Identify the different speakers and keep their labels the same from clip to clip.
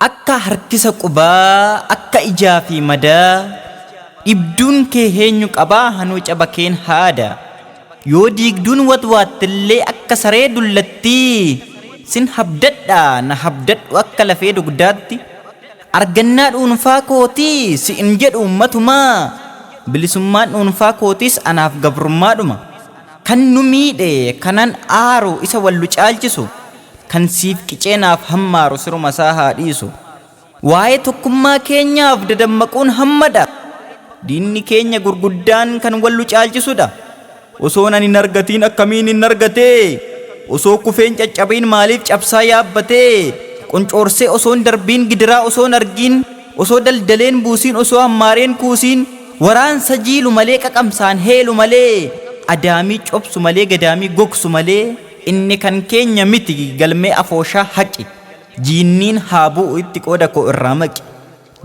Speaker 1: Akka harkisa qubaa akka ijaa fi madaa Dhibduun kee heenyu qabaa hanuu caba keen haada Yoo diigduun watwaattellee akka saree dullattii Sin habdadha na habdadhu akka lafee dugdaatti Argannaa dhuunfaa kooti si in jedhu matumaa Bilisummaan dhuunfaa kootis anaaf gabrummaadhuma Kan nu miidhe kanan aaru isa wal nu caalchisu Kan siif qicee naaf hammaaru sirumasaa haa dhiisu. Waa'ee tokkummaa keenyaaf dadammaquun hammadha. Diinni keenya gurguddaan kan wal nu caalchisudha. Osoon ani hin argatiin akkamiin inni argatee? Osoo kufee hin caccabiin maaliif cabsaa yaabbatee? Qoncoorsee osoo hin darbiin gidiraa osoo hin argiin, osoo daldalee hin buusiin, osoo hammaaree hin kuusiin, waraansa jiilu malee qaqamsaan heelu malee, adaamii cobsu malee gadaamii gogsu malee, Inni kan keenya miti galmee afooshaa haqi, jiinniin haa bu'u itti qooda koo irraa maqi.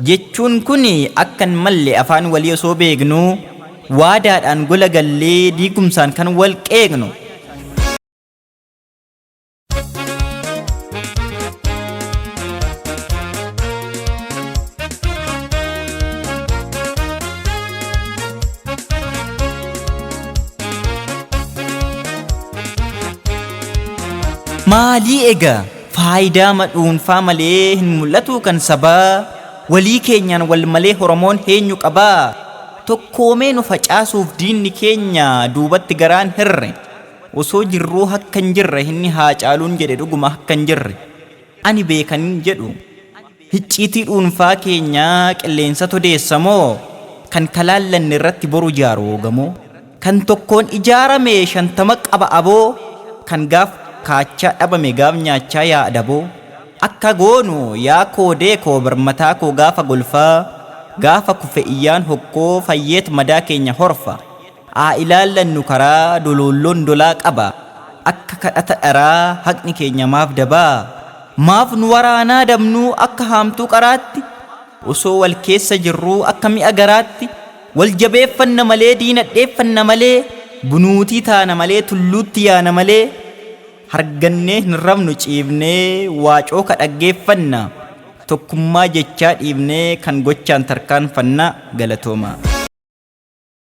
Speaker 1: Jechuun kun akka hin malle afaan walii osoo beeknuu, waadaadhaan gola gallee diigumsaan kan wal qeeqnu, Maalii egaa faayidaa ma dhuunfaa malee hin mul'atuu kan sabaa walii keenyaan wal malee Oromoon heenyu qabaa tokkoomee nu facaasuuf diinni keenya duubatti garaan hirre osoo jirruu hakkan jirre inni haacaaluun jedhe dhuguma hakkan jirre ani beekanin jedhu Hicciitii dhuunfaa keenya qilleensatu odeessa moo kan kalaallanne irratti boru ijaaru hoo gamoo? Kan tokkoon ijaarame shantama qaba aboo kan gaaf kaachaa dhabame gaaf nyaachaa yaa adaboo? Akka goonu yaa koodee koo birmataa koo gaafa golfaa gaafa kufe iyyaan hokkoo fayyeet madaa keenya horfa. haa ilaallannu karaa doloolloon dolaa qaba akka kadhata dharaa haqni keenya maaf dabaa maaf nu waraanaa dabnuu akka haamtuu qaraatti osoo wal keessa jirruu akka mi'a garaatti wal jabeeffanna malee diina dheeffanna malee bunuutii taana malee tulluutti yaana malee hargannee hin rafnu ciifnee waa cooka dhaggeeffanna tokkummaa jechaa dhiifnee kan gochaan tarkaanfanna galatoomaa.